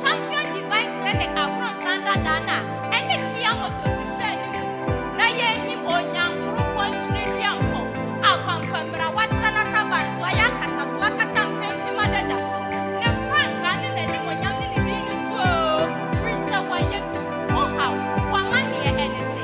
Champion Divine Clinic Abronsan dada no a ɛne Fia Motors hyɛɛ no mu na yɛnnim Onyankoropɔn Ntwenedua Mpɔw a Kwankwammira watra n'ataban so ayɛ akataso akata mpempem adagya so, ne frankaa ne n'animuonyam ne ne din no so oo, firi sɛ wayɛ bi, wo haw, w'amanneɛ ɛne sɛ.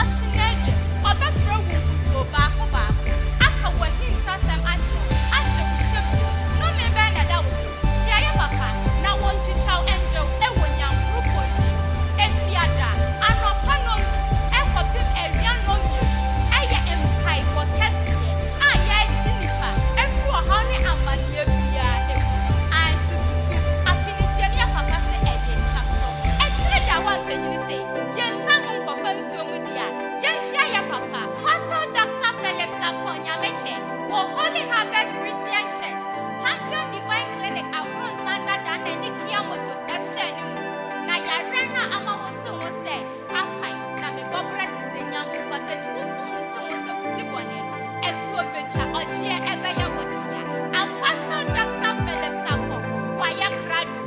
Ɔte n'adwam, ɔbɛfrɛ wo nkutoo baako baako, aka w'ahintasɛm akyerɛ wo, ahyɛ wo nhyɛ bio. Nnome bɛn na ɛda wo so? Hyiayɛ papa, na wɔntwitwa wo ɛngyew wɔ nyankoropɔn bi mu. Efiada anɔpa nnɔndu kɔpem awia nnɔnmienu yɛ mpaebɔ kɛseɛ a yɛregye nnipa afiri ɔhaw ne amaneɛ biara mu. Ae, sususu afinesiamyɛ papa sɛ ɛyɛ twa so. Ɛkyere da a woampanyini sɛ. Yɛn nsa ngu nkɔfa nsuo mu deɛ a, yɛnhyia yɛ papa. Pastor Doctor Phillips Apoh Nyamekyɛ wɔ Holy Harvest Christian Church, Champion Divine Clinic Abronsan dada na ɛne Kia Motors hyɛɛ no mu. Na yareɛ no a ama wose ho sɛ akwan na mebɔ berɛ te sɛ nyampo pasage wose ho se ho sɛ wodi bɔne no, ɛtuo bɛtwa, ɔgyeɛ ɛbɛyɛ wo dea. Am Pastor Doctor Phillips Apoh, wayɛ krado.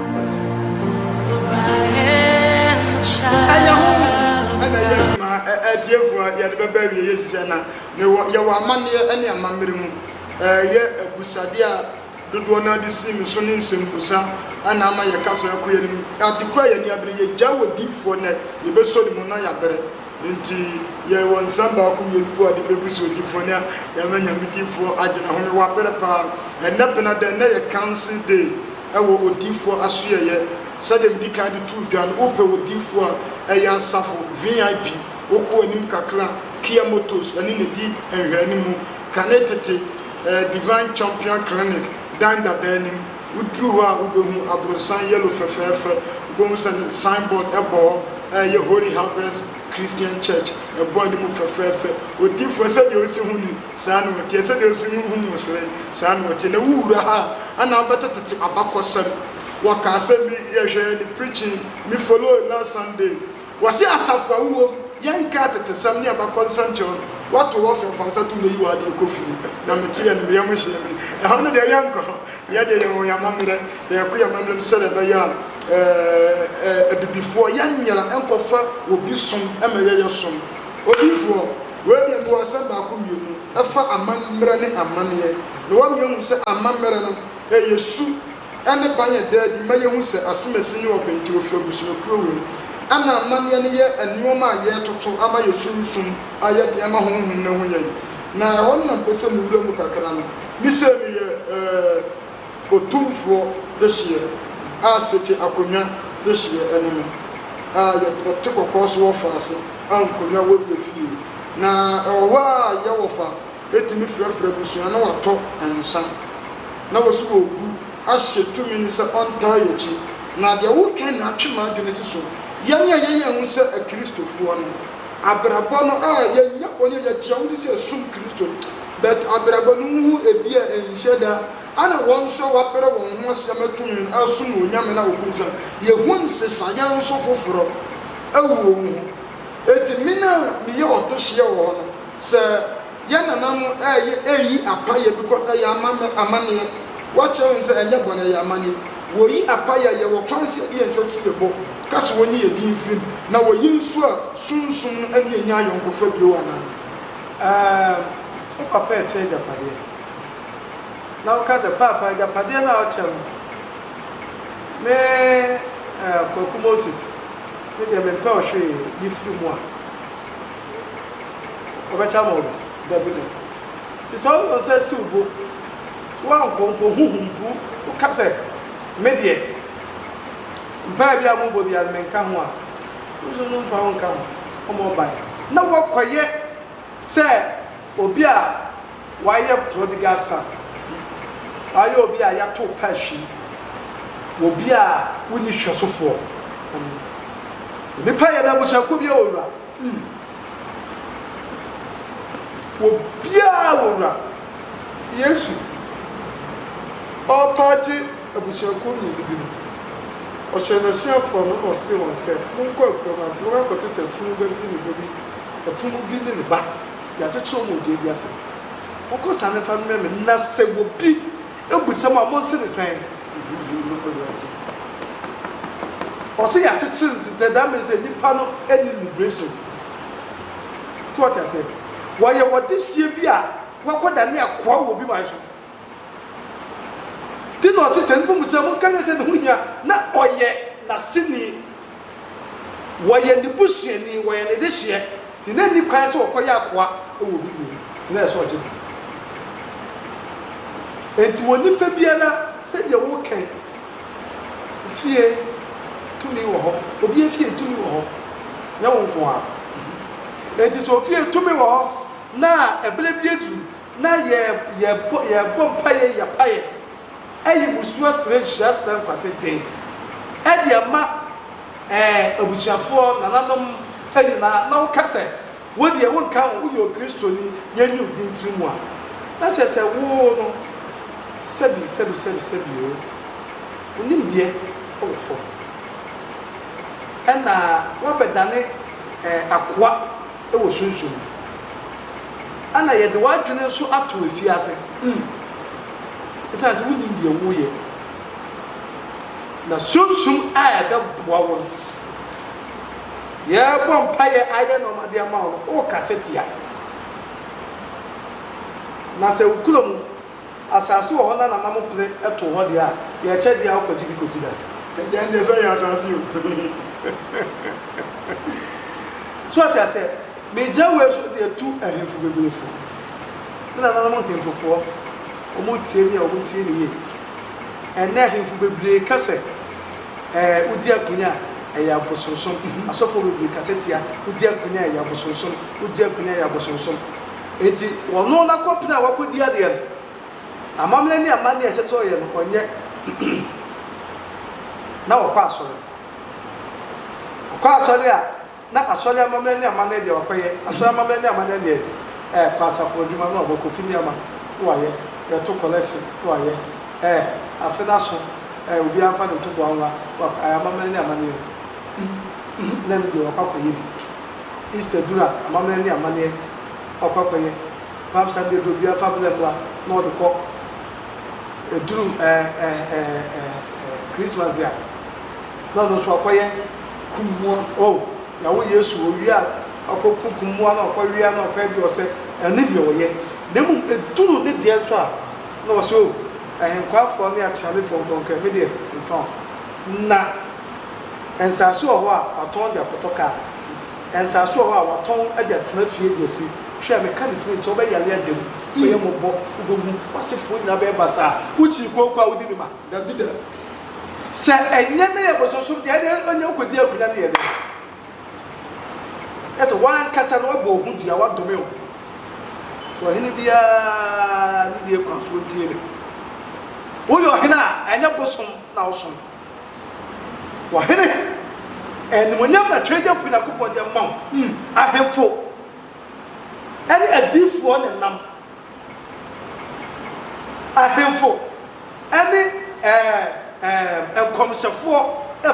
Ɛyɛ honhom ɛna ɛyɛ adwuma a atiefo a yɛde bɛba awiei ahyehyɛ na mewɔ yɛwɔ amanneɛ ne amammerɛ mu. Ɛyɛ abisade a dodoɔ no ara de sii me so ne nsɛmmisa ɛna ama yɛka saa ɛkɔ yɛn anim. Ade koro a yɛn ani abere, yɛgyae wɔ diifoɔ nnɛ, yɛbɛsɔ ne mu na yɛabrɛ. Enti yɛwɔ nsɛm baako mmienu po a de bɛgu so, odiifoɔ ne yɛn ama Nyame diifoɔ agye n'ahome, wabrɛ paa. Ɛnnɛ Penada, ɛnnɛ yɛ Council Day. wɔ odiyifoɔ asoɛeɛ. Sɛdeɛ medi kan de too dwa no, wopɛ odiyifoɔ a, ɛyɛ asafo, VIP, wokɔ w'anim kakra, Kia Motors ne na ɛdi nhwɛanimu. Kane tete, ɛɛ, Divine Champion Clinic dan dada anim. Woduru hɔ a, wobɛhu aborosan yellow fɛfɛɛfɛ. Wobɛhu sɛ ne sign board bɔ hɔ a ɛyɛ Holy Harvest Christian Church. Ɛbɔ anim fɛfɛɛfɛ. Odiyifoɔ, sɛdeɛ wosi ho ni, Saa na ɔteɛ. Sɛdeɛ ɔsi mu hunu wo sere, saa na ɔteɛ. Na wowura ha a, na wobɛtetete abakɔsɛm. Wɔka asɛm bi, yɛhwɛɛ ne preaching, me follow last Sunday. Wɔse asafo a wowɔ mu, yɛnka atetesɛm ne abakɔnsɛm kyerɛ wo no, woato wo afrɛ, fa wo nsa to mu na yi w'adeɛ kɔ fie. Na meteɛ no, me yam hyee me. Ɛhɔ no deɛ, yɛnkɔ hɔ. Yɛn deɛ, yɛwɔ yɛn amammerɛ. Yɛkɔ yɛn amammerɛ mu sɛdeɛ ɛbɛyɛ a Abibifoɔ, yɛnyera nkɔfa obi som ma yɛyɛ som. Odiyifoɔ. Wei deɛ nso asɛm baako mmienu ɛfa amammerɛ ne amaneɛ na wɔn mmienu hu sɛ amammerɛ no ɛyɛ su ɛne ban ɛda adi ma yɛhu sɛ asemasi ne ɔbenteɛ ɔfiri abusuakuo wei mu ɛna amaneɛ no yɛ nnoɔma a yɛretoto ama yɛn sunsum a yɛde ama honhom no ahu yɛn na ɛhɔ no na mpɛ sɛ me wura mu kakra no me sei meyɛ ɛɛ Otumfoɔ dehyeɛ a sete akonnwa dehyeɛ ɛne no a yɛte kɔkɔɔ so wɔ faase a nkonnwa wɔ yɛ fie na ɛwɔ hɔ a yɛ wɔfa ɛtumi frɛfrɛ abusua na watɔ nsa na wɔsi wɔ gu ahyɛ tumi no sɛ ɔntaa yɛ akyi. Na deɛ woka nyinaa twe m'adwene si so yɛn a yɛyɛ ho sɛ akiristofoɔ no. Abrabɔ no a yɛnya wɔ ne yɛde kyerɛ wode sɛ ɛsom Kristo but abrabɔ no wohu ebi a ɛnhyɛ da ana wɔn nso a wɔabrɛ wɔn ho ase ama tumi no asom wɔ onyame no a wɔbu nsam yɛhu nsesaeɛ nso foforɔ ɛwɔ wo mu hɔ enti mena meyɛ ɔtohyeɛ wɔ hɔ no sɛ Yɛn nana no ɛyɛ ɛyi apa yɛ bikɔ sɛ yɛ ama mɛ amaneɛ wɔ kyerɛ wɔn sɛ ɛnyɛ bɔnɛ yɛ ama ni wɔ yi apa yɛ yɛ wɔ kwan sɛ yɛn nsa si yɛ bɔ ka sɛ wɔ nyi yɛ din firi mu na wɔ yi nso a sunsum no ɛne yɛ nyɛ ayɔnkofa bio anaa. Ɛɛm wo papa ɛkyɛ agyapadeɛ na wo ka sɛ paapa agyapadeɛ no a wo kyɛ no me ɛɛ kwaku moses me deɛ me mpɛ wo hwee yi firi mu a. ɔbɛkyɛ ama wo bi? Dabi, dabi. Nti sɛ wo nsa si wo bo, woankɔ mpo, honhom mpo, woka sɛ, Me deɛ, mpaeɛ biara a mobɔ biara no, menka ho a, wo nso no mfa wo nka ho, ɔmmɔ ban. Na woakɔyɛ sɛ. Obi a wayɛ prodigal son, wayɛ obi a yɛatow pa ahwi, obi a wonni hwɛsofoɔ. Onipa yɛ dɛ abusuakuo biara wɔ wura. Mm. Obiara wɔ wura. Nti Yesu ɔrepa agye abusuakuo mmienu bi no, ɔhyɛɛ n'asuafoɔ no na ɔsee wɔn sɛ, Monkɔ akurom ase, monkɔto sɛ afunuba bi ne ne ba bi, afunumu bi ne ne ba. Yɛakyekyere wɔn wɔ dua bi ase. Monkɔ saa na momfa mmrɛ me, na sɛ obi bisa mo a, monse no sɛ, Eyi ye ma Awurade. Ɔse yɛakyekyere no nti, that means sɛ nnipa no nni liberation. So woate aseɛ? Wɔyɛ ɔdehyeɛ bi a wakɔdane akoa wɔ obi man so. Nti na ɔse sɛ nnipa mu sɛ monka nyɛ sɛ ne ho hia na ɔyɛ n'aseni, wɔyɛ ne busuani, wɔyɛ ne dehyeɛ, nti na nni kwan sɛ ɔkɔyɛ akoa wɔ obi mu, nti na ɛsɛ sɛ ɔgye no. Nti wɔ nnipa biara sɛdeɛ wo kɛn fie tumi wɔ hɔ, obi afie tumi wɔ hɔ, nyɛ wo nko ara. Nti sɛ ofie tumi wɔ hɔ na ɛberɛ bi aduru na yɛ yɛbɔ yɛbɔ mpaeɛ yapaeɛ ɛyi musuo srɛ nhyira srɛ nkwate den ɛde ama ɛɛ abusuafoɔ nananom ɛnyinaa na woka sɛ wodeɛ wonka ho woyɛ okristoni yɛnyi wo din firi mu a na kyerɛ sɛ woo no sɛbi sɛbi sɛbi sɛbi oo wonim deɛ ɛwɔ fam ɛna wabɛdane ɛɛ akoa wɔ sunsum mu. Ɛna yɛde w'adwene nso ato afiase. Mm. Esiane sɛ wunim deɛ woreyɛ no, na sunsum a ɛbɛboa wo no, yɛrebɔ mpaeɛ ayɛ nneɛma de ama wo no, worekasa tia. Na sɛ wokura mu. Asase wɔ hɔ na nana mo pere to hɔ deɛ a, yɛ kyɛ deɛ a wo kɔ gye bi kɔ si da. Agya ndeɛ sɛ ɔyɛ asase o hehehehe. So ate aseɛ? Me gya wei so deɛ tu ahemfo bebree fo. Me nananom nhemfo foɔ ɔmo tie me a ɔmo tie me yie. Ɛnnɛ ahemfo bebree ka sɛ ɛɛ wo di akonya a ɛyɛ abosonsom. Asɔfoɔ bebree ka sɛ tia wo di akonya a ɛyɛ abosonsom, wo di akonya a ɛyɛ abosonsom. Enti ɔno na kɔpene a wakɔdi adeɛ no, amammerɛ ne amanneɛ a ɛsɛ sɛ ɔyɛ no, ɔnyɛ. Na ɔkɔ asɔre. Ɔkɔ asɔre a, na asɔre amammerɛ ne amanneɛ deɛ wakɔyɛ, asɔre amammerɛ ne amanneɛ deɛ ɛɛ, kɔ asafo adwuma no a, ɔbɔ kofi nneɛma na wayɛ, bɛto kɔlɛse na wayɛ, ɛɛ, afe no aso, ɛɛ, obiara mfa ne ntoboa nwa, wa, ɛɛ, amammerɛ ne amanneɛ no, mm, mm, na ɛno deɛ wakɔ akɔyɛ bi. Easter dur a, amamɛn nye amanneɛ na ɔkɔ akɔyɛ. Palm Sunday dur a, obiara fa bla bla na ɔdze kɔ. Edur Christmas dze a, na ɔno so ɔkɔyɛ kum mbowa. Oh, yɛawo Yesu, owie a, ɔkɔ ku kum mbowa na ɔkɔ wea na ɔkɔ ɛdeɛ ɔsɛ. Ɛno ne deɛ wɔyɛ. Na mmom edur ne deɛ nso a, na wɔse oh, ahenkwaafoɔ ne ateanefoɔ nkɔ nkɔyɛ. Me deɛ, mfa ho. Na. Nsase wɔ hɔ a wɔatɔn de akɔtɔ kaa. Nsase wɔ hɔ a wɔatɔn de atena fie de asi. Hwɛ, meka ne tiri nti, ɔbɛyare ada mu, ɔbɛyɛ mmɔbɔ, wobɛhu, w'asefoɔ nyinaa bɛyɛ basaa. Wokyi kooko a, wodi ne ma? Dabida! Sɛ ɛnyɛ na ɛyɛ bosonsom deɛ, ɛnneɛ ɔnyɛ wokɔdi akunya no yɛ dɛn? Kyerɛ sɛ, w'ankasa no woabɔ wo ho dua, woadome wo ho. Nti ɔhene biara ne deɛ kwan so ɔntie me. Woyɛ ɔhene a, ɛnyɛ bosom na wosom. Ɔhene, animuonyam na twɛdeɛfoɔ Nyankopɔn de ama wo, ahemfo ne adiyifoɔ na ɛnam, ahemfo ne ɛɛm, nkɔmhyɛfoɔ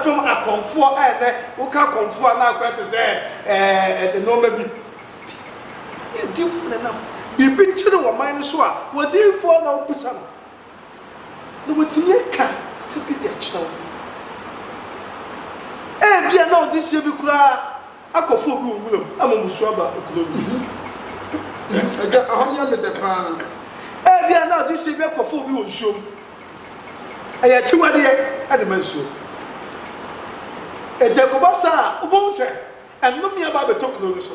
fam akɔmfoɔ a ɛnɛ woka akɔmfoɔ a na akɔyɛ te sɛ ɛɛm, nnoɔma bi, ne adiyifoɔ na ɛnam, biribi kyere wɔ man no so a, w'adiyifoɔ na wobisa no. na watumi aka asɛm bi de akyerɛ wo. Ebia na ɔde sie bi koraa akɔfa obi wɔ nwura mu ama mmusu aba kuro no mu. Agya, ɛhɔ nyɛ me dɛ paa. Ebia na ɔde sie bi akɔfa obi wɔ nsuo mu. Ɛyɛ akyiwadeɛ de ma nsuo. Enti ɛkɔba saa a, wobɛhu sɛ Ɛnome aba abɛtɔ kuro no so.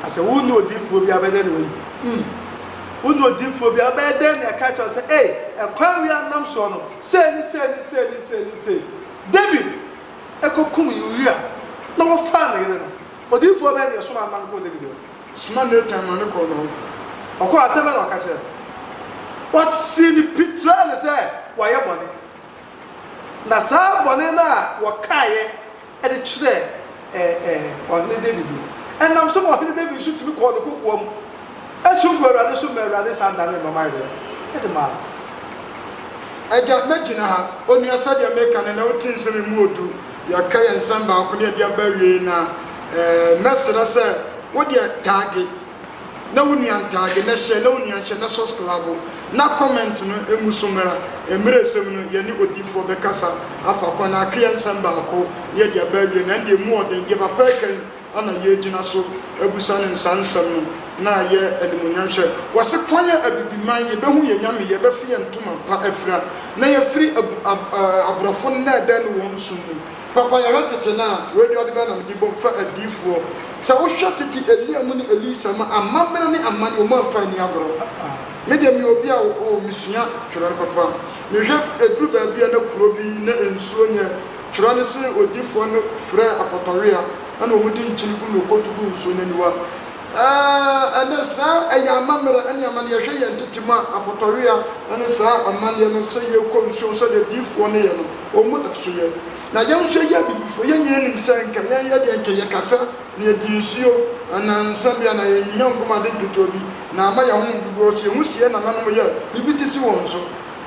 Na sɛ wo ne odiyifoɔ bi a, wobɛyɛ dɛn na wayi wo? Ii, Wo ne odiyifoɔ bi a, wobɛyɛ dɛn na yɛka akyerɛ wo sɛ, Ei, ɛkwan wei a nam soɔ no, sei ne sei ne sei ne sei ne sei. Dawid kɔkum Uria na ɔfaa ne yere no. Odiyifoɔ bɛn na ɛsomaa no ma no kɔɔ Dawid hɔ? Ɔsomaa Natan ma no kɔɔ ne hɔ. Ɔkɔɔ a, asɛm bɛn na ɔka kyerɛɛ no? Ɔsii no pi kyerɛɛ no sɛ wayɛ bɔne. Na saa bɔne no a wɔkaeɛ. de kyerɛɛ ɛɛ Ɔhene Dawid no, ɛnam so ma Ɔhene Dawid nso tumi kɔɔ ne kokoa mu som buu Awurade so ma Awurade san danee ne mmaman werɛ de maa no. Agya, mɛgyina ha. Onua, sɛdeɛ mereka no ɛnnɛ, wote nse me mu odu. Yɛreka yɛn nsɛm baako na yɛde aba awiei na ɛɛ mɛsrɛ sɛ wo deɛ taage. na wo nua ntaade na hyɛ na wo nua nhyɛ na sɔsklabo na comment no ngu so mmra mmerɛsɛm no yɛne odiyifoɔ bɛkasa afa kwan akeɛ nsɛm baako na yɛde aba awie na ɛndeɛ mu ɔden deɛ papa ɛka yi ana yɛregyina so abusa no nsaa nsɛm no na ayɛ animuonyam hwɛ wɔse kwan yɛ abibiman yɛbɛhu yɛn nyame yɛbɛfe yɛn ntoma pa afira na yɛafiri aborɔfo nnɛɛdɛɛ ne wɔn som mu. Papayɛ ha tete no a wei de ɔde bɛn na mede bom fa adiyifoɔ sɛ wohwɛ tete Elia mu ne Elisa mu a amammerɛ ne amane wɔn amfa anni agorɔ me deɛ meyɛ obi a oh mesua twerɛ papa mehwɛ ɛduru baabi a na kuro bi na nsuo nyɛ twerɛ no se odiyifoɔ no frɛɛ apɔtɔwea ɛna wɔn de nkyene gu na ɔkɔtu gu nsuo no aniwa Ɛɛ, ɛnnɛ, saa ɛyɛ amammerɛ ne amanneɛ. Hwɛ yɛn tete mu a, apɔtɔwea ne saa amanneɛ no, sɛ yɛkɔ nsuom sɛdeɛ adiyifoɔ no yɛ no, wɔn da so yɛ. Na yɛn nso yɛyɛ abibifoɔ. Yɛn nyinaa nim sɛ anka yɛnyɛ deɛ anka yɛkasa na yɛdi nsuo anaa nsã bi anaa yɛnyi yɛn nko ma ade nketewa bi na ama yɛn ho bebu. Wɔhyɛ yɛn ho si yɛn nananom yɛ biribi te se wɔn so.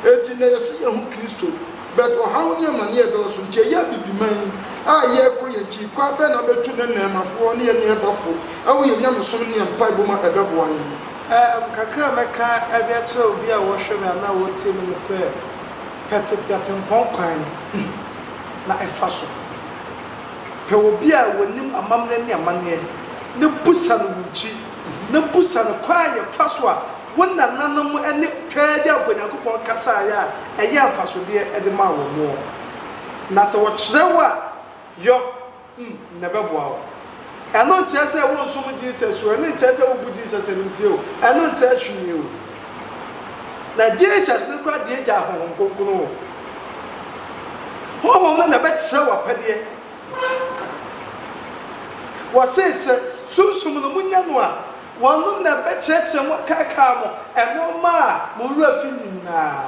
Enti, na yɛse yɛn ho Kristo. But ɔhaw ne amaneɛ dɔɔso nti ɛyɛ Abibiman yi a yɛɛkɔ yɛ nti kwan bɛn na abɛtu nɛ Nɛɛmafoɔ ne yɛ nuɛbafoɔ ɛwɔ yɛ nyamesom ne yɛ mpaebɔ mu a ɛbɛboa yɛn? Erm kakra a mɛka de akyerɛ obi a ɔɔhwɛ me anaa ɔɔtie me ne sɛ, pɛ tete atempɔn kwan no na ɛfa so. Pɛ obi a ɔnim amammerɛ ne amaneɛ na busa no wo nkyi na busa no kwan a yɛfa so a Wo nananom ne twaa gya bɔ Nyankopɔn kasaeɛ a ɛyɛ mfasodeɛ de maa wɔn ɔ. Na sɛ wɔkyerɛ wo a, yɔ n, na ɛbɛboa wo. Ɛno nkyerɛ sɛ wonsom Jesus o, ɛno nkyerɛ sɛ wobu Jesus animtia o, ɛno nkyerɛ hwee o. Na Jesus no koraa deɛ gyaa Honhom Kronkron o. Honhom no na ɛbɛkyerɛ wo apɛdeɛ. Wɔse sɛ Sunsum no monya no a, Wɔnom na ɛbɛkyerɛkyerɛ mo akaakae mo nnoɔma a mo werɛ fi nyinaa.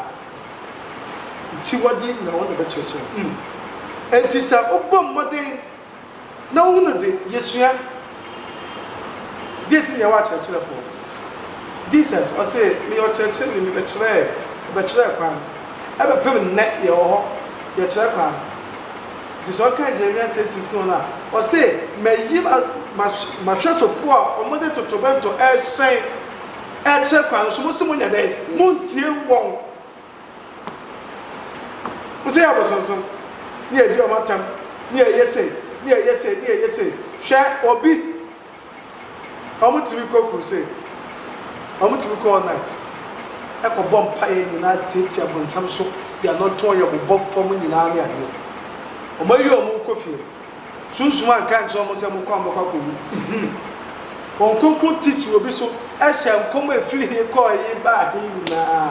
Akyiwadeɛ nyinaa wɔn na ɛbɛkyerɛkyerɛ mo. Mm. Enti sɛ wobɔ mmɔden na wohunu de, yɛsua. Deɛ nti na yɛwɔ akyerɛkyerɛfoɔ? Jesus, ɔse, Meyɛ ɔkyerɛkyerɛni, mebɛkyerɛɛ, mebɛkyerɛɛ kwan. Ɛbɛpem nnɛ yɛwɔ hɔ, yɛkyerɛ kwan. Enti sɛ ɔkan Jeremia nsɛm sisi hɔ no a, ɔse, Mayi m'ahwɛsofo a wɔde totorobɛnto rehyɛn rekyerɛ kwan no so, mose monyɛ dɛn? Montie wɔn! Mose yɛ abosonsom, ne yɛadi wɔn atam, ne yɛyɛ sei, ne yɛyɛ sei, ne yɛyɛ sei. Hwɛ, obi. Wɔtumi kɔ crusade, wɔtumi kɔ all night kɔbɔ mpaeɛ nyinaa tiatia bonsam so de anɔntɔn yɛ bobɔ fam nyinaa ne adeɛ. Wɔayi wɔn rekɔ fie. Sunsum anka ankyerɛ wɔn sɛ mokɔ a mobɛkɔ akɔwu. Nhim. Wɔn kronkron ti si obi so hyɛ nkɔm a ɛfiri he kɔɔ he baa he nyinaa.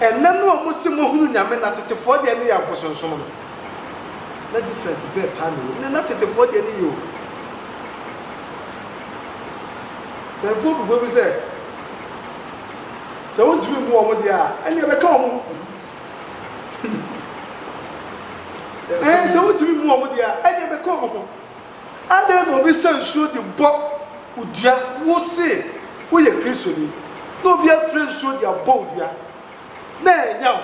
Ɛnɛ no a mo se mo hunu Nyame na tetefoɔ deɛ ne yɛ abosonsom no, na difference bɛɛ paa na ɛwɔ mu? Na tetefoɔ deɛ ne yɛ o. Mpanyinfoɔ bebɔ mu sɛ, sɛ wontumi mmu wɔn deɛ a, ɛnneɛ bɛka wɔn ho. Ɛɛ, sɛ wontumi mmu wɔn deɛ a, ɛnneɛ bɛka wɔn ho. Adɛn na obi sa nsuo de bɔ wo dua? Wo se woyɛ Kristoni na obi afire nsuo de abɔ wo dua na ɛnya wo?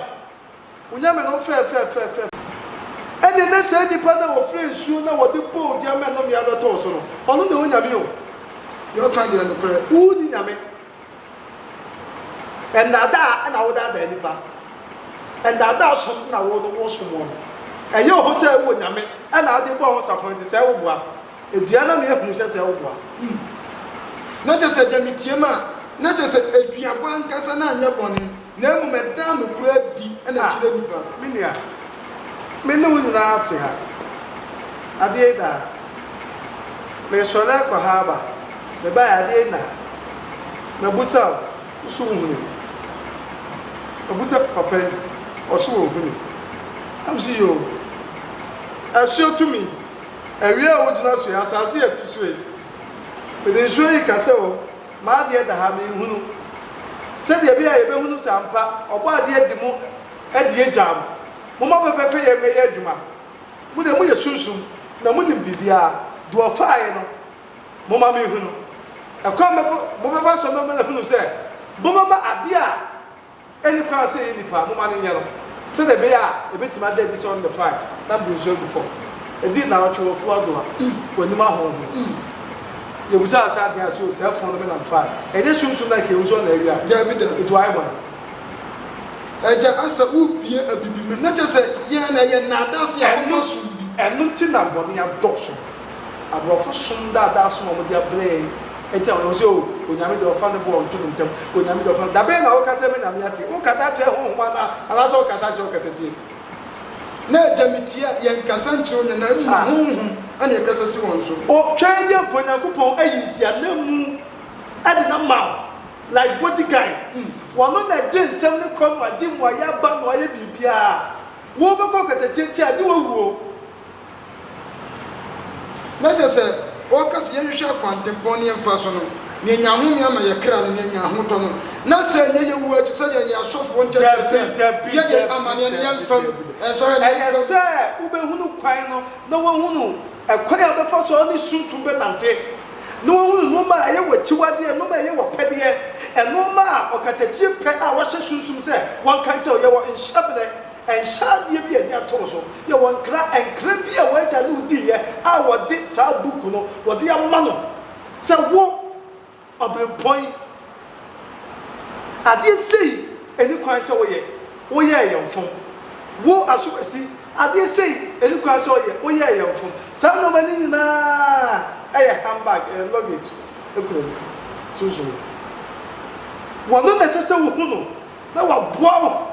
Wo Nyame no mfɛɛ fɛɛfɛɛfɛ. Ɛnneɛ na saa nipa no a ɔfire nsuo na wɔde bɔ wo dua ma nnome abɛtɔ wo so no, ɔno na ɔwɔ Nyame o. Deɛ ɔka deɛ nokorɛ, wonni Nyame. Ndaadaa na wodaadaa nnipa. Ndaadaa som na wosom wɔn. Ɛyɛ wo ho sɛ wowɔ Nyame na wode bɔ ho safono nti sɛɛ woboa. Dua na meyɛ hunu sɛ sɛɛ woboa. Hmm. Na kyerɛ sɛ gya me tie me a, na kyerɛ sɛ aduaba ankasa na anyɛ bɔne. Na mmom ɛda nokorɛ adi na ɛkyerɛ nnipa. Ah, me nua, me ne wo nyinaa te ha. Adeɛ yi da ha. Meresɔre akɔ ha aba. Mebaeɛ, adeɛ yi nna ha. Mabisa wo, wo nso wohunuu. Mabisa papa yi, ɔso ɔhunuu. Na mese, Yoo. Asuo tumi. Awia a wogyina so yi, asase a ɛte so yi, mede nsuo yi kasa o. M'adeɛ da ha, menhunu. Sɛdeɛ ɛbɛyɛ a yɛbɛhunu sɛ ampa Ɔbɔadeɛ de mo adi agyaa mo. Momma pɛpɛpɛyɛ mmɛyɛ adwuma. Mo deɛ moyɛ sunsum, na monim biribiara. Deɛ ɔfaeɛ no, momma menhunu. Ɛkwan bɛn mobɛfa so ama mahunu sɛ mobɛma adeɛ a. Ɛnni kwan sɛ ɛyɛ nnipa moma no nyɛ no sɛdeɛ ɛbɛyɛ a ɛbɛtumi ada adi sɛ ɔno na ɛfae na mede nsuo agu fam. Ɛdii nnawɔtwe wɔ afuo adowa wɔ anim ahorɔ ho. Yɛbisaa sɛ adɛn a so saa funu no me na mefae? Ɛnyɛ sunsum na anka yɛhu sɛ ɔno na awia no? Daabi da. Enti wayɛ bɔne. Agya Asa, wobue abibim. Na kyerɛ sɛ, yɛn na yɛn nnaadaase a wɔfa som bi. Ɛno nti na bɔne adɔɔso. Aborɔfo som daadaa som a wɔde abrɛ yɛn nti na wɔyɛ sɛ, Oh, Onyame deɛ ɔfa ne bo a ɔnto no ntɛm, Onyame deɛ ɔfa, dabɛn na woka sɛ me na meate? Wokasa kyerɛ honhom anaa? Anaasɛ wokasa kyerɛ ɔkatakyie? Na Agya metie a, yɛnkasa nkyerɛ wo nyɛ, na mmom Ah! honhom na ɛkasa si wɔn so. O, twɛn deɛ mpo Nyankopɔn ayi nsiananmu de no ama wo, like body guy, mm, ɔno na ɛgye nsɛm no kɔ no, agye mmuaeɛ aba no, ayɛ biribiara, wobɛkɔ ɔkatakyie nkyɛn agye wo awuo. Na kyerɛ sɛ, ɔreka sɛ yɛnhwehwɛ akwantempɔn ne yɛn mfa so no, nea enya ahome ama yɛn kra no, nea enya ahotɔ no, na sɛ ɛnyɛ yɛn wu akyi sɛnea yɛn asɔfoɔ nkyɛ kyerɛ sɛ, yɛ yɛn amanneɛ na yɛn mfam nsɔre na yɛn mfam. Ɛyɛ sɛ wobɛhunu kwan no na woahunu ɛkwan a wobɛfa so a wone Sunsum bɛnante, na woahunu nnoɔma a ɛyɛ w'akyiwadeɛ, nnoɔma a ɛyɛ w'apɛdeɛ, nnoɔma a ɔkatakyie pɛ a woahyɛ Sunsum sɛ wɔnka nkyerɛ wo, yɛ wɔ nhyɛberɛ. Nhyɛ adeɛ bi a ani atɔɔ so yɛ wɔ nkra nkra bi a w'agya ne wo diiɛ a wɔde saa book no wɔde ama no sɛ wo Ɔberempɔn yi adeɛ sei ɛni kwan sɛ woyɛ wo yɛɛ yɛ mfom wo Asowasi adeɛ sei ɛni kwan sɛ woyɛ wo yɛɛ yɛ mfom saa nnoɔma no nyinaa ɛyɛ handbag ɛyɛ luggage ɛkura mu sunsum wɔno na ɛsɛ sɛ wohu no na waboa wo.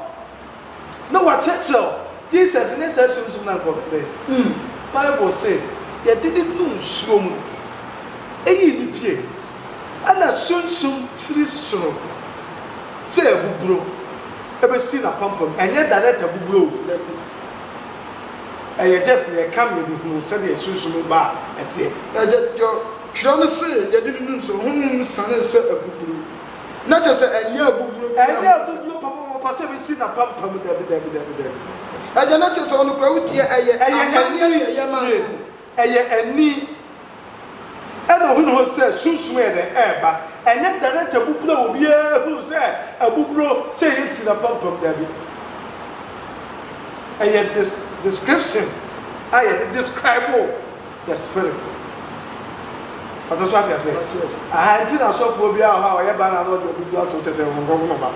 na wɔakyerɛkyerɛ wo. Jesus nye saa sunsum no a nka ɔbɛyɛ dɛ. Bible se, Yɛde no nuu nsuo mu, eyii no pue. Ɛna sunsum firi soro sɛ abuburo bɛsi n'apampam. Ɛnyɛ direct abuburo o, dabi. Ɛyɛ just yɛka ma yɛde hunu sɛdeɛ sunsum ba a ɛteɛ. Ɛdeɛ twerɛ no se yɛde no nuu nsuo mu, honhom no sianee sɛ abuburo. Na kyerɛ sɛ ɛnyɛ abuburo bi na Ɛnyɛ wɔpɛ sɛ. abuburo pam a wɔpɛ sɛ wɔsi no apampam. Dabi, dabi, dabi, dabi. Agya, na kyerɛ sɛ ɔno koraa wotie, ɛyɛ Ɛyɛ amanneɛ na ɛyɛ ani, ma tie. no. Ɛyɛ ani. Ɛna ɔhunu hɔ sɛ sunsum yɛ dɛn? Ɛreba. Ɛnyɛ direct abuburo a obiara hunu sɛ abuburo sɛ yɛasi no apampam. Dabi. Ɛyɛ des, description a yɛde describe wo. The spirit. Ɔtɔ so ate ase. Aha nti na asɔfoɔ bi wɔ hɔ a ɔyɛ baana na ɔde ɔde bi ato kyɛ sɛ wɔn nkɔnkɔn ɔba.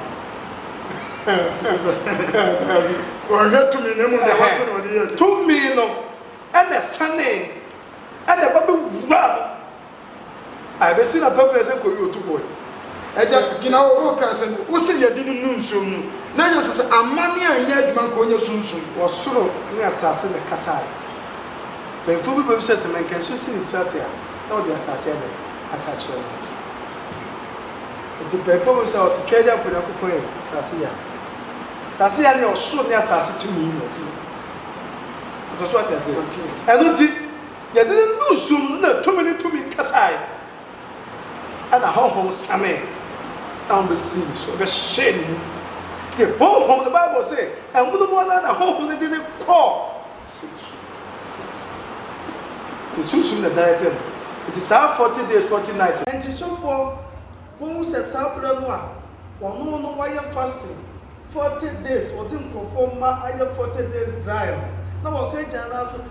Wɔhwɛ tumi na mu deɛ wɔte na ɔde yɛ adwuma. Tumi no ɛna sane ɛna ɛba bɛwura no. Ae besi na pɛpɛɛ sɛ kori otu bɔe. Agya, gyina hɔ, woreka asɛm bi. Wose yɛde no nnu nsuom no, na Yesu se, Amanne anyɛ adwuma nka onya sunsum. Wɔ soro ne asase na ɛkasae. Mpanyimfo bi bebisa se, Menka nsu si ne tiri ase a, na ɔde asase adɛn aka akyerɛ no? Enti mpanyimfo bebisa wɔ se, Twɛɛde a mpo Nyankopɔn yɛ asase yi a, asase yi ane ɔsoro ne asase tumi na ɔde yɛ. Ɔtɔ so ate aseɛ? Ɛno nti. Yɛde no nuu sum no na tumi ne tumi kasae. Ɛnna honhom sanee na wɔbesii ne so bɛhyɛɛ ne mu. Te honhom no, Bible se, amonom ara na honhom no de no kɔɔ sunsum ne sunsum. Te sunsum na ɛdane te no. Enti saa forty days, forty nights no. Enti sɔfoɔ no hu sɛ saa berɛ no a ɔno no wayɛ fasting forty days, ɔde nkurɔfoɔ mma ayɛ forty days dry no, na wɔsan gyina no ase.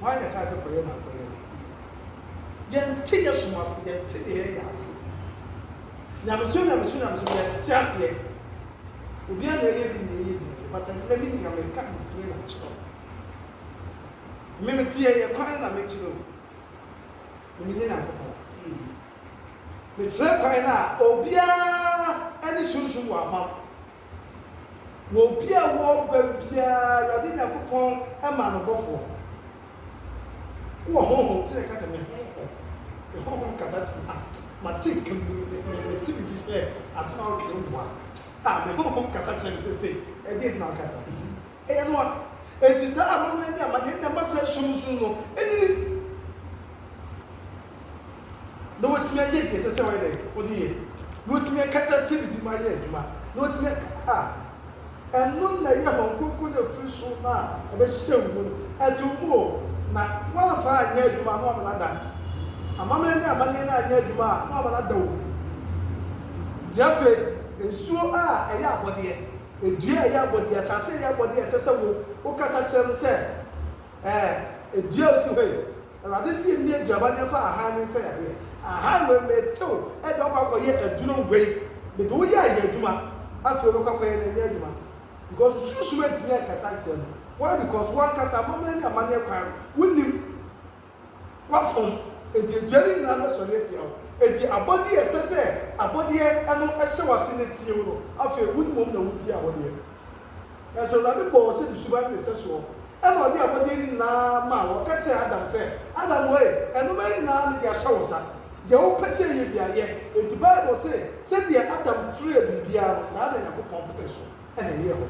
Why na ɛkae sɛ kɔyɛ na ankɔyɛ no? Yɛnte yɛ som ase, yɛnte deɛ yɛyɛ ase. Nyamesom nyamesom nyamesom yɛnte aseɛ. Obiara na ɛyɛ bi na ɛyɛ bi na but ɛnnɛ me nua meka nimdeɛ na akyerɛ wo. Me mete yɛ yɛ kwan na mɛkyi no. Me nim yɛ Nyankopɔn. Mekyerɛ kwan no a obiara ne sunsum wɔ apam. Na obi a ɔwɔ ɔba biara, Awurade Nyankopɔn ma no bɔfoɔ. Wowɔ honhom, nti na ɛka sɛ me honhom, me honhom kasa sɛ ah, mate nka me, me, me, mete biribi sɛ asɛm a woka no boa. Ah, me honhom kasa kyerɛ me sɛ sei, ɛdeɛ nti na wokasa? Ɛyɛ no a, enti saa amammerɛ ne amanneɛ no na ɛma saa sum nsu no nyini, na watumi ayɛ deɛ ɛsɛ sɛ ɔyɛ dɛn? Ɔde yɛ. Na watumi akasa akyerɛ biribi ma ayɛ adwuma, na watumi aka a, ɛno na ɛyɛ Honhom Kronkron no a ɛfiri soro no a ɛbɛhyɛ wo mu no. Ɛte wo mu o, na woamfa anyɛ adwuma a, na wama no ada. Amammerɛ ne amanneɛ no anyɛ adwuma a, na wama no ada o. Nti afei, nsuo a ɛyɛ abɔdeɛ. dua a ɛyɛ abɔdeɛ, asase a ɛyɛ abɔdeɛ a ɛsɛ sɛ wo, wokasa kyerɛ no sɛ, Ɛɛ, dua a ɔsi hɔ yi, Awurade se yɛnni aduaba ne yɛmfa ahan ne nsɛ yadeɛ. Ahan wei, mete wo, ɛde wakɔ akɔyɛ aduro wei. Mede wo yɛ ayɛ adwuma, afei wobɛkɔ akɔyɛ no ɛnyɛ adwuma. Because sunsum antumi ankasa ankyerɛ no. Why? Because wankasa, amammerɛ ne amanneɛ kwan no, wonnim. W'afom, enti adua no nyinaa bɛsɔre atia wo. Enti abɔdeɛ a ɛsɛ sɛ abɔdeɛ no hyɛ w'ase na ɛtie wo no, afei wo mmom na wotie abɔdeɛ. Nanso Awurade bɔɔ wo sɛ ne suban ne ne sɛsoɔ, ɛna ɔde abɔdeɛ no nyinaa maa wo. Ɔka kyerɛɛ Adam sɛ, Adam oe, ɛnomaa yi nyinaa mede ahyɛ wo nsa. Deɛ wopɛ sɛ ɛyɛ biara, yɛ. Enti Bible se, Sɛdeɛ Adam frɛɛ biribiara no, saa na Nyankopɔn penee so. na ɛyɛɛ hɔ.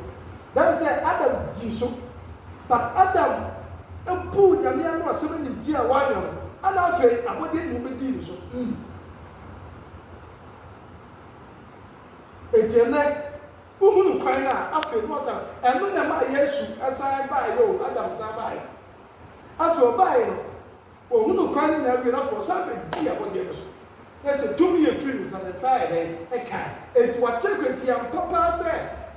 That is sɛ Adam dii so but Adam buu Nyame ano asɛm animtia a wanyɛ no ɛna afei abɔdeɛ nyina bɛdii ne so. Enti ɛnɛ wohunu kwan no a afei no ɔsɛ ɛno na ɛmaa Yesu san baeɛ o, Adam san baeɛ. Afei ɔbaeɛ no Ohu nokware no na awie no afei ɔsan abɛdi abɔdeɛ no so. Na sɛ tumi yɛ firi ne nsa, ne nsa ayɛ dɛn? Ɛkae. Enti wakyerɛ kwan. Enti ɛyɛ ampa paa sɛ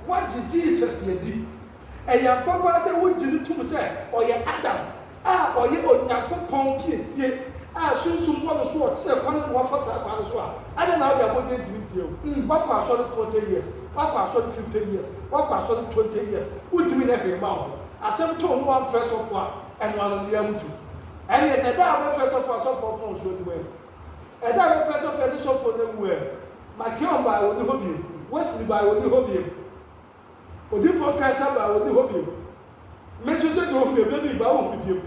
woagye Jesus adi. Ɛyɛ ampa paa sɛ wogye no tom sɛ ɔyɛ Adam a ɔyɛ Onyankopɔn piesie a Sunsum bɔ no so ɔkyerɛ kwan ma wafa saa kwan no so a, adɛn na wode abɔdeɛ ntumi ntia wo? Woakɔ asɔre forty years, woakɔ asɔre fifty years, woakɔ asɔre twenty years, wontumi nyɛ hwee mma wo ho. Asɛm too no woamfrɛ sɔfo a ɛno ano bia mutu ɛneɛ sɛ da a wobɛfrɛ sɔfoɔ a sɔfoɔ fɔn nsuo de wɛ ɛda a wobɛfrɛ sɔfoɔ sɛ sɔfoɔ no awu ɛ makeon baa wɔni hɔ biem wesili baa wɔni hɔ biem odifoɔ kansa baa wɔni hɔ biem me nso sɛ deɛ ɔhunu ɛbɛ bi baa wɔhu me biem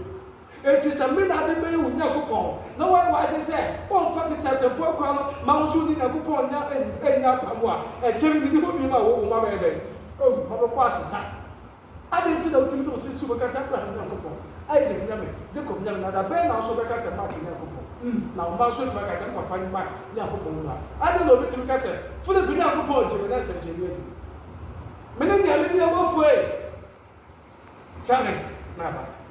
enti sɛ me na ade bɛyɛ wo nyankopɔn na wɔyɛ w'ade sɛ ɔmfa tetɛtɛmfoɔ akwa no ma wo nso ne nyankopɔn nya ɛnya apam a ɛkyɛ me ne hɔ biem a wɔwɔ ma bɛyɛ dɛn ɔhu ma bɛkɔ asesa Adɛn nti na wotumi de wo sisi wobɛka sɛ Abraham Nyankopɔn, Isak Nyame, Jacob Nyame, na da bɛn na wo nso wobɛka sɛ Mark Nyankopɔn? Hm, na wo mma nso atumi aka sɛ me papa ne Mark Nyankopɔn mmra. Adɛn na obetumi ka sɛ Philip Nyankopɔn gye me na nsɛnkyerɛnne asi mu? Mene nea mene ɔbɔfoɔ ei! Sane na ba.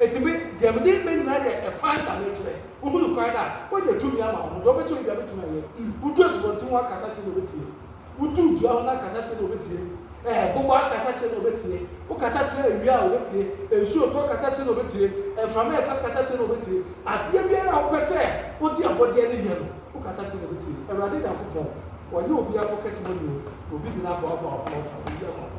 Enti me, deɛ mede me nyinaa yɛ ɛkwan na mekyerɛ. Wohunu kwan no a, wogye tumi ama wɔn. Deɛ wopɛ sɛ woyɛ biara, wobɛtumi ayɛ. Wodu asubɔnten ho akasa kyerɛ no, ɔbɛtie. Wodu dua ho no akasa kyerɛ no, ɔbɛtie. Ɛɛ, bobɔ akasa kyerɛ no, ɔbɛtie. Wokasa kyerɛ awia a, ɔbɛtie. Nsuo retɔ kasa kyerɛ no, ɔbɛtie. Mframa refa kasa kyerɛ no, ɔbɛtie. Adeɛ biara a wopɛ sɛ wode abɔdeɛ no yɛ no, wokasa kyerɛ no, ɔbɛtie. Awurade Nyankopɔn, ɔnyɛ obi apɔkɛtemɔni o, na obi de no aboaboa wo ho na ɔfa biribi ama wo.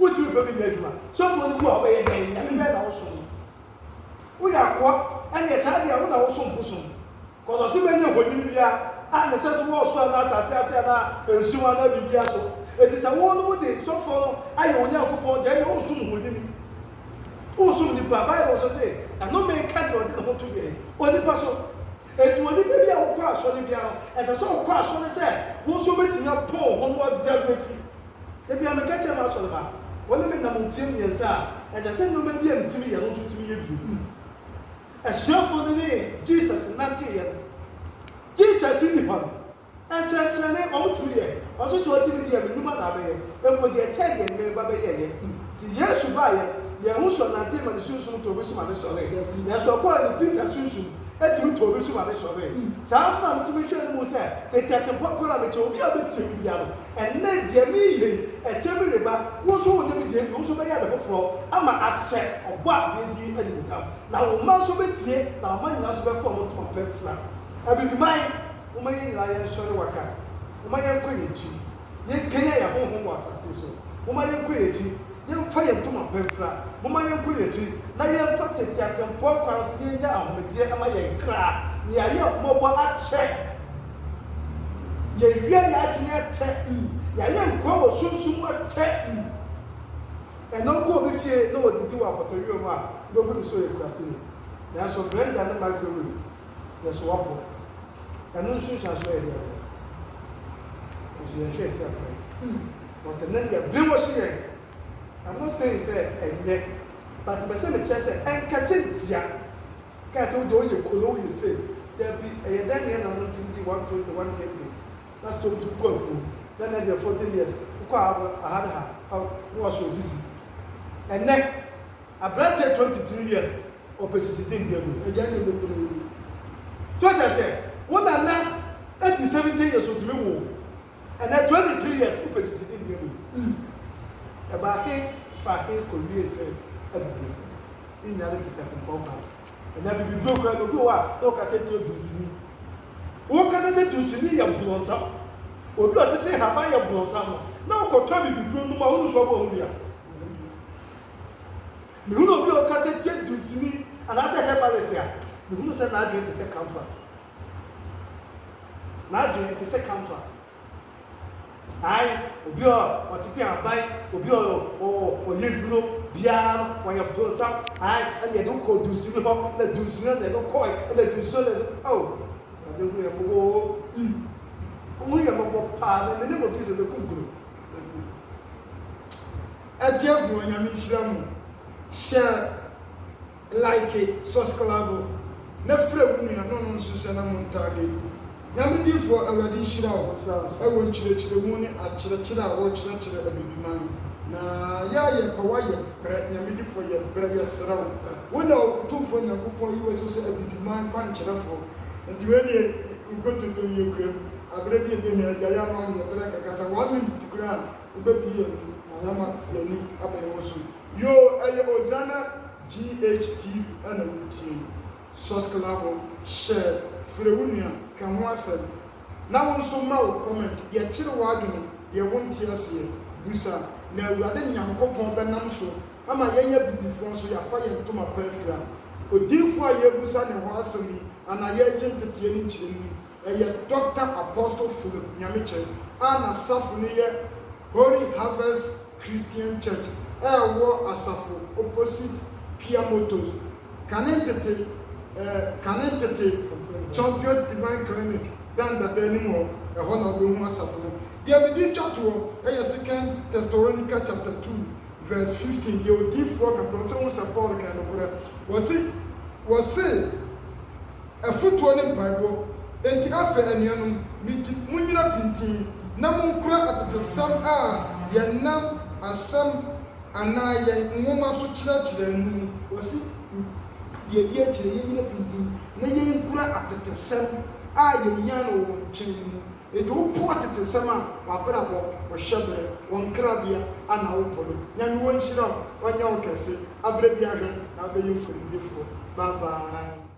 Wontumi mfa bi nyɛ adwuma. Sɔfoɔ no bu a, wobɛyɛ dɛn? Nyame bɛn na wosom? Woyɛ akoa? Ɛneɛ saa deɛ a, wo na wosom bosom. Cause ɔse mɛnyɛ honyini biara a ne sɛ so wɔ ɔsoro anaa asase ase anaa nsuo mu anaa biribiara so. Enti sɛ wo no wode sɔfoɔ no ayɛ wo Nyankopɔn deɛ, ɛneɛ woresom honyini. Woresom nipa. Bible nso se, Ɛnome nka deɛ ɔde ne ho to deɛn? Onipa so. Enti onipa bi a wokɔ asɔre biara no, ɛsɛ sɛ wokɔ asɔre sɛ wo nso wobɛtumi apɔn wo ho na woagraduate. Ebia meka kyerɛ m'asɔremma a wɔne me nam mfeɛ mmiɛnsa a, ɛsɛ sɛ nneɛma bi a metumi yɛ no nso tumi yɛ bi. Hunu asuafoɔ no ne Jesus nanteeɛ no. Jesus nni hɔ no, nsɛnkyerɛnne wɔtumi yɛ, ɔse sɛ ɔgye me di a, me nnwuma na abɛyɛ, mpo deɛ ɛkyɛn deɛ me ba bɛyɛeɛ. Nti Yesu baeɛ no, yɛn ho sɔ nantee ma ne sunsum tɔɔ bɛsu ma ne sɔree. Nanso ɔkɔɔ no, Peter sunsum tumi tɔɔ bɛsu ma ne sɔree. Saa ara nso na metumi hwɛ no mu sɛ, tete atempɔ korɔ a mekyɛ obi a ɔbɛtia me biara no, Ɛnnɛ, deɛ mereyɛ yi, ɛkyɛ bi reba, wo nso wonyɛ me deɛ bi, wo nso wobɛyɛ ade foforɔ ama ahyɛ Ɔbɔadeɛ din animuonyam. Na wo mma nso bɛtie, na aman nyinaa nso bɛfa wɔn ntoma pa afira. Abibiman, momma yɛn nyinaa yɛnsɔre waka, momma yɛnkɔ yɛn akyi, yɛnkanyan yɛn honhom wɔ asase so, momma yɛnkɔ yɛn akyi. Yɛmfa yɛn ntoma pa mfira, momma yɛnkɔ yɛn akyi, na yɛmfa tete atempɔn kwan so na yɛnnya ahomegyeɛ mma yɛn kra, na yɛayɛ ahummɔbɔ akyɛ, yɛawia yɛn adwene akyɛ, yɛayɛ nkoa wɔ sunsum mu akyɛ. Ɛnnɛ wokɔ obi fie na ɔdidi wɔ apɔtɔyowa mu a, wobɛbu no sɛ ɔyɛ kuraseni. Nanso blender ne microwave yɛ sowapo. Ɛno nso nsuansoɔ yɛ dɛn? Nanso yɛnhwɛ yɛn sɛ ɛkorɛ. Wɔ sɛ na yɛ bere wɔ hye yɛn na mo seen sɛ ɛnyɛ but mpɛ sɛ me kyerɛ sɛ ɛnkɛ sɛ ntia kɛɛ sɛ wo deɛ wo yɛ kolo wo yɛ sei dabi ɛyɛ dɛn na yɛ na mo nte ndi one twenty one tente na sɛ wo tumi kɔ afuo na na deɛ forty years wo kɔ a aha ne ha oh na wa so sisi ɛnɛ aberanteɛ twenty three years ɔpɛ sisi de ndi adu ɛgya ɛnyɛ ne kolo yi so kyerɛ sɛ wo nana ɛdi seventy years ɔtumi wo Ɛnɛ 23 years wopɛ sisi ne nneɛma mu mm Ɛbaa he faa he kɔwiee sɛ agu ho asɛm Ne nyinaa ne tete atempɔn bag Ɛnɛ abibiduro koraa no obi wɔ hɔ a na ɔka sɛ nti odunsini Wokasa sɛ dunsini yɛ brɔnsam Obi a ɔtete nhaban yɛ brɔnsam no na wokɔtɔ abibiduro nom a wonim so ɔbɔ ho bi a Mehunu obi a ɔka sɛ tie dunsini anaasɛ herbalist a mehunu sɛ n'adwene te sɛ kamfa. N'adwene te sɛ kamfa. Ae, obi a ɔtete aban, obi a ɔyɛ nnuro biara no, ɔyɛ bronsam. Ae, ɛna yɛde wo kɔɔ dunsini hɔ, ɛna dunsini hɔ na yɛde wo kɔe, ɛna dunsini hɔ na yɛde wo. Oh, Awurade hu yɛn mmɔbɔ oo. Mm. Ɔhu yɛn mmɔbɔ paa, na ne ne mu ti sɛ bɛkunkum no. Atiefo, Onyame nhyira mo. Hyɛ. Like susclabo na frɛ wo nua na ɔno nso nhyɛ na mo ntagge. Nyame difoɔ awurade nhyira wo wɔ nkyerɛkyerɛmu ne akyerɛkyerɛ a wokyerɛkyerɛ abibiman na yɛ a yɛpɛ wo a yɛ brɛ Nyame difoɔ yɛ brɛ yɛsrɛ wo wo na otumfoɔ Nyankopɔn yi wo so sɛ abibiman kwankyerɛfoɔ nti wei deɛ nkontontom yɛ kuram aberɛ bi ɛbɛhia agyae ama wo ne yɛ brɛ kakra sɛ one minute koraa a wobɛbue yɛn ani ama yɛn ani abɛyɛ wo so. Yoo ɛyɛ Ozana GH TV na wo retie yi. Sɔsklabo share, frɛ wo nua, ka ho asɛm. Na wo nso ma wo comment, yɛkyere w'adwene, deɛ wo nte aseɛ, busa, na Awurade Nyankopɔn bɛnam so ama yɛn abibifoɔ nso yɛafa yɛn ntoma pa afira. Odiyifoɔ a yɛrebusa ne hɔ asɛm yi anaa yɛregye nteteɛ ne nkyerɛmu yi, ɛyɛ Dɔkta Apostle Philip Nyamekyɛn a n'asafo no yɛ Holy Harvest Christian Church a ɛwɔ asafo opposite Pia Motors, kane ntete eh, kane ntete Champion Divine Clinic Dan Dada anim hɔ, ɛhɔ na wobɛhu asafo no. Deɛ mede retwa toɔ yɛ Second Thessalonica chapter two verse fifteen, deɛ odiyifoɔ ka pɛ, ɔse wohu sɛ Paul kan nokorɛ, ɔse, ɔse, afotuo ne mpaebɔ. Enti afei anuanom, megye monnyina pintinn na monkura atetesɛm a yɛnam asɛm anaa yɛn nwoma so kyerɛkyerɛɛ no mu. Wɔse, Deɛ ɛdi akyire, yɛnnyina pintinn na yɛnkura atetesɛm a yɛnyaa no wɔ wɔn nkyɛn no mu. Enti wopo atetesɛm a, w'abrabɔ, wo hyɛberɛ, wo nkrabea ana wopo no? Nyame wɔnhyira wo, ɔnyɛ wo kɛse, aberɛ biara hwɛ na wobɛyɛ nkonimdifoɔ. Bye bye.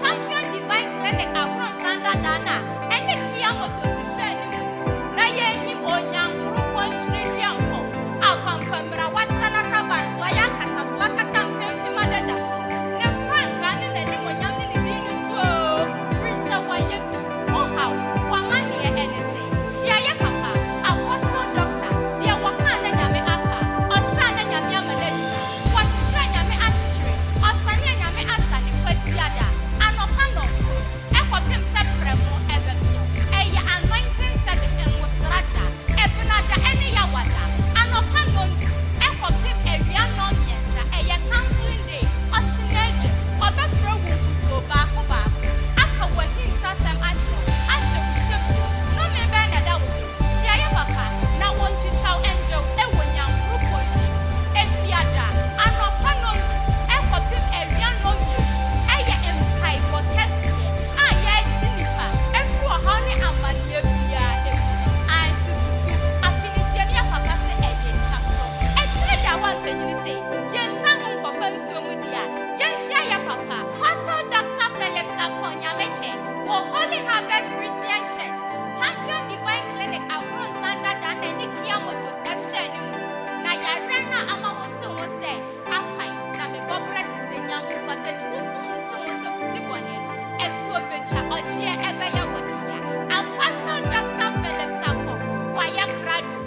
Champion Divine Clinic ahorow nsandadaa no a ɛne Kia Motors hyɛɛ no mu na yɛrehim Onyankoropɔn twerɛdua nkɔ a Kwankwammira watra n'ataban so ayɛ akataso akata mpempem adagya so ne frankaa ne n'animuonyam ne ne din no so oo firi sɛ wayɛ bi, ohaw, w'amaneɛ ɛne sɛ. Hyia yɛ papa, Apostle Doctor, deɛ wɔkaa na Nyame aka, ɔhyɛa na Nyame ama no agyina, wɔkyekyerɛ Nyame akyekyere, ɔsanea Nyame asane, Kwasiada, anɔpa nɔnkono, ɛkɔpem sɛ prɛmo ɛbɛto, ɛyɛ anointing service, Nwosra da, Ɛbena da ɛne Yawada, anɔpa nɔndu, ɛkɔpem awia nɔnmiɛnsa, ɛyɛ counseling, Ɔte na agya, ɔbɛfrɛ wo nkutoo baako baako, aka w'ahintasɛm akyerɛ wo, ahyɛ wo hyɛ bio. Nnome bɛn na ɛda wo so? Tiayɛ papa, na wɔntwitwaw ngya wo wɔ nyankoropɔn yi mu. Efiada, anɔpa nnɔndu kɔpem awia nnɔnmienu, ɛyɛ mpaebɔ kɛseɛ a yɛregye nnipa afiri ɔhaw ne amaneɛ biara mu. Ae, sususu, afinesiamyɛ papa se ɛyɛ twa so. Ɛkyere da a woampanyini se. Yɛnsan mu nkɔfa nsuo mu di a, yɛnhyia yɛ papa. Pastor Doctor Phillips Akorn Nyamekyɛ wɔ Holy Harvest Christian Church, Champion Divine Clinic Abronsan Dada na ɛne Kia Motors hyɛɛ no mu. Na yareɛ no a ama wose ho sɛ Akwan na me bɔberɛ te sɛ nyambo basage wose ho se ho sɛ wodi bɔne no atuo bɛtwa ɔgyeɛ ɛbɛyɛ wo dea. Apostle Doctor Phillips Akorn wayɛ krado.